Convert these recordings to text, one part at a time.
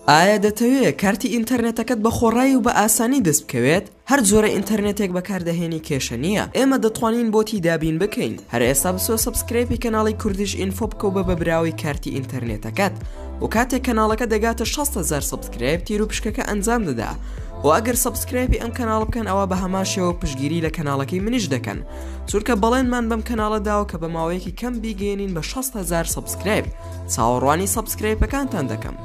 ئایا دەتەوێ کارتی ئینتەرنێتەکەت بە خۆڕایی و بە ئاسانی دەست بکەوێت؟ هەر جۆرە ئینتەرنێتێک بەکاردەهێنی کێشە نییە ئێمە دەتوانین بۆتی دابین بکەین هەر ئێستا بچۆ سەبسکرەیپی کەناڵی کوردیش ئینفۆ بکە و بە بە براوەی کارتی ئینتەرنێتەکەت و کاتێک کەناڵەکە دەگاتە 600 هزار سەبسکرایب تیر و پشکەکە ئەنجام دەدا و ئەگەر سەبسکرایپی ئەم کەناڵ بکەن ئەوە بە هەمان شێوە پشگیری لە کەناڵەکەی منیش دەکەن چونکە بەڵێنمان بەم کەناڵە داوە کە بە ماوەیەکی کەم بیگەێنین بە 600 هزار سەبسکرایب چاوەڕوانی سەبسکرایپەکانتان دەکەم.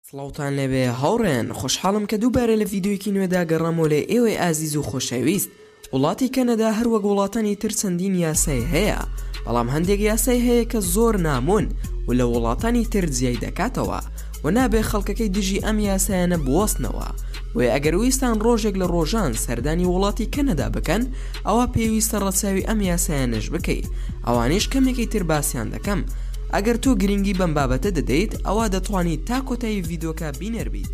سڵاوتان لەبێ هاوڕێن خۆشحاڵم کە دووبارە لە ڤیددیوکی نوێدا گەڕامۆ لە ئێوەی ئازیز و خۆشەویست وڵاتی کەنەدا هەروەک وڵاتانی تر چەندین یاسای هەیە بەڵام هەندێک یاسای هەیە کە زۆر نامۆن و لە وڵاتانی تر جیای دەکاتەوە و نابێ خەڵکەکەی دژی ئەم یاسایانە بوەستنەوە بۆیە ئەگەر ویستان ڕۆژێک لە ڕۆژان سەردانی وڵاتی کەنەدا بکەن ئەوە پێویستە ڕەچاوی ئەم یاسایانەش بکەی ئەوانیش کەمێکی تر باسییان دەکەم ئەگەر تۆ گرنگی بەم بابەتە دەدەیت ئەوە دەتوانیت تا کۆتایی ڤیدۆکە بینەر بیت.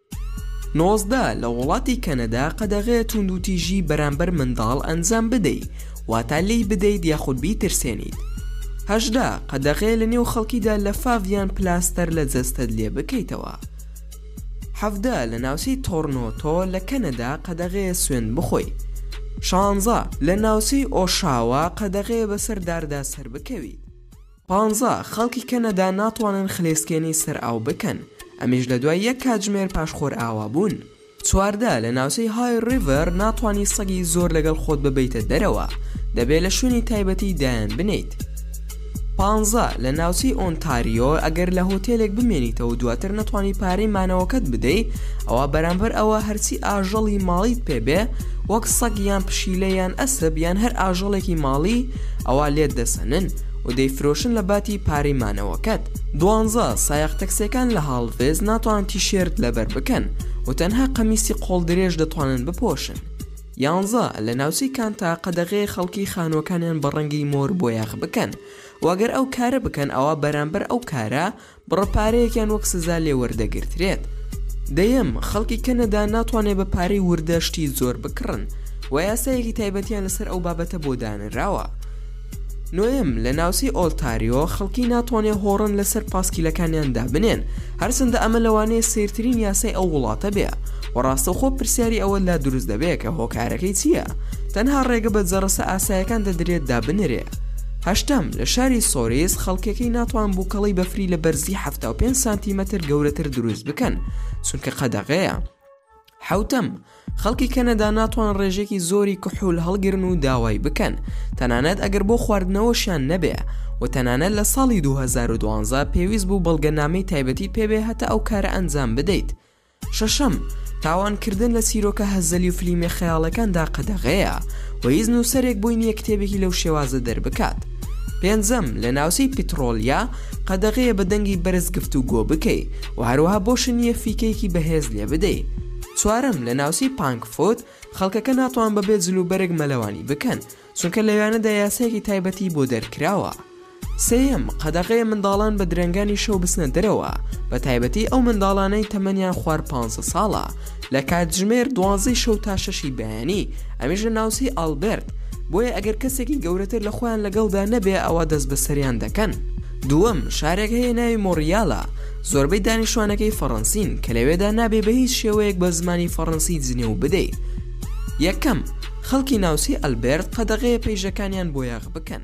نۆزدە، لە وڵاتی کەنەدا قەدەغەیە توندوتیژی بەرامبەر منداڵ ئەنجام بدەی، واتا لێی بدەیت یاخود بیترسێنیت. هەژدە، قەدەغەیە لە نێو خەڵکیدا لەفاف یان پلاستەر لە جەستەت لێ بکەیتەوە. حەڤدە، لە ناوچەی تۆرنۆتۆ لە کەنەدا قەدەغەیە سوێند بخۆی. شانزە، لە ناوچەی ئۆشاوا قەدەغەیە بەسەر داردا سەربکەویت. پانزە، خەڵکی کەنەدا ناتوانن خلێسکێنەی سەر ئاو بکەن، ئەمیش لە دوای یەک کاتژمێر پاش خۆرئاوابوون. چواردە، لە ناوچەی های ڕیڤەر ناتوانی سەگی زۆر لەگەڵ خۆت ببەیتە دەرەوە، دەبێت لە شوێنی تایبەتی دایانبنێیت. پانزە، لە ناوچەی ئۆنتاریۆ ئەگەر لە هۆتێلێک بمێنیتەوە و دواتر نەتوانی پارەی مانەوەکەت بدەی، ئەوا بەرامبەر ئەوە هەرچی ئاژەڵی ماڵیت پێ بێ وەک سەگ یان پشیلە یان ئەسپ یان هەر ئاژەڵێکی ماڵی ئەوا لێت دەسەنن. و دەیفرۆشن لە باتی پارەی مانەوەکەت دوانزە سایەق تەکسیەکان لە هاڵڤێز ناتوانن تیشێرت لەبەر بکەن و تەنها قەمیسی قۆڵ درێژ دەتوانن بپۆشن یانزە لە ناوچەی کانتا قەدەغەیە خەڵکی خانوەکانیان بە ڕەنگی مۆر بۆیاخ بکەن و گەر ئەو کارە بکەن ئەوا بەرامبەر ئەو کارە بڕە پارەیەکیان وەک سزا لێ وەردەگرترێت. دەیەم، خەڵکی کەنەدا ناتوانێت بە پارەی وردە شتی زۆر بکڕن و یاسایەکی تایبەتیان لەسەر ئەو بابەتە بۆ دانراوە. نۆیەم، لە ناوچەی ئۆنتاریۆ خەڵکی ناتوانێت هۆڕن لەسەر پاسکیلەکانیان دابنێن، هەرچەندە ئەمە لەوانەیە سەیرترین یاسای ئەو وڵاتە بێ و ڕاستەوخۆ پرسیاری ئەوە لا دروست دەبێت کە هۆکارەکەی چییە تەنها ڕێگە بە جەرەسە ئاسایەکان دەدرێت دابنرێ. هەشتەم، لە شاری سۆریس خەڵکەکەی ناتوان بوکەڵەی بەفری لە بەرزی حەفتا و پێنج سانتیمەتر گەورەتر دروست بکەن چونکە قەدەغەیە. حەوتەم، خەڵکی کەنەدا ناتوان ڕێژێکی زۆری کحول هەڵگرن و داوای بکەن تەنانەت ئەگەر بۆ خواردنەوەشیان نەبێ و تەنانەت لە ساڵی دوو هەزار و دوازدە پێویست بوو بەڵگەنامەی تایبەتیت پێبێ هەتا ئەو کارە ئەنجام بدەیت. شەشەم، تاوانکردن لە چیرۆکە هەزەلی و فلیمە خەیاڵەکاندا قەدەغەیە و هیچ نووسەرێک بۆی نییە کتێبێکی لەو شێوازە دەربکات. پێنجەم، لە ناوچەی پیتڕۆلیا قەدەغەیە بە دەنگی بەرز گفتوگۆ بکەی و هەروەها بۆشت نییە فیکەیەکی بەهێز لێ بدەی. چوارەم، لە ناوچەی پانکفوت خەڵکەکە ناتوان بەبێ جلوبەرگ مەلەوانی بکەن، چونکە لەوێانەدا یاسایەکی تایبەتی بۆ دەرکراوە. سێیەم، قەدەغەیە منداڵان بە درەنگانی شەو بچنە دەرەوە، بە تایبەتی ئەو منداڵانەی تەمەنیان خوار پانزە ساڵە، لە کاتژمێر دوانزەی شەو تا شەشی بەیانی، ئەمیش لە ناوچەی ئالبێرت، بۆیە ئەگەر کەسێکی گەورەتر لە خۆیان لەگەڵدا نەبێ ئەوا دەست بەسەریان دەکەن. دووەم، شارێک هەیە ناوی مۆنڕیالە، زۆربەی دانیشتوانەکەی فەڕەنسین، کە لەوێدا نابێ بە هیچ شێوەیەک بە زمانی فەڕەنسی جنێو بدەی. یەکەم. خەڵکی ناوچەی ئەلبێرت قەدەغەیە پەیژەکانیان بۆیاغ بکەن.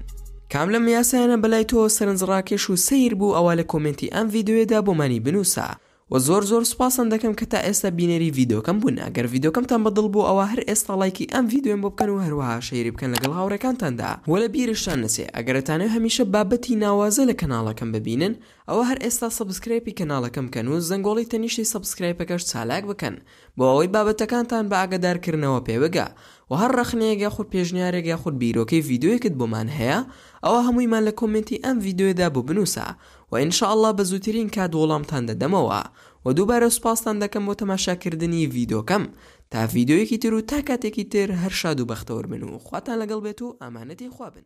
کام لەم یاسایانە بەلای تۆ سەرنج ڕاکێش و سەیر بوو ئەوا لە کۆمێنتی ئەم ڤیدۆیەدا بۆمانی بنوسە وە زۆر زۆر سوپاستان دەکەم کە تا ئێستا بینەری ڤیدۆکەم بوون ئەگەر ڤیدۆکەمتان بە دڵ بوو ئەوا هەر ئێستا ڵایکی ئەم ڤیدۆیەم بۆ بکەن و هەروەها شەیری بکەن لەگەڵ هاوڕێکانتاندا وە لە بیرشتان نەچێ ئەگەر ئەتانەوێ هەمیشە بابەتی ناوازە لە کەناڵەکەم ببینن ئەوە هەر ئێستا سەبسکرایپی کەناڵەکەم کەن و زەنگۆڵی تەنیشتی سەبسکرایپەکەش چالاک بکەن بۆ ئەوەی بابەتەکانتان بە ئاگەدار کردنەوە پێ بگا وە هەر ڕەخنەیەک یاخود پێشنیارێک یاخود بیرۆکەی ڤیدۆیەکت بۆمان هەیە ئەوا هەموویمان لە کۆمێنتی ئەم ڤیدۆیەدا بۆ بنوسە وە ان شاء اللە بە زووترین کات وەڵامتان دەدەمەوە وە دووبارە سوپاستان دەکەم بۆ تەماشا کردنی ڤیدۆکەم تا ڤیدۆیەکی تر و تا کاتێکی تر هەر شاد و بەختەوەر بن و خواتان لەگەڵ بێت و ئامانەتی خوا بن.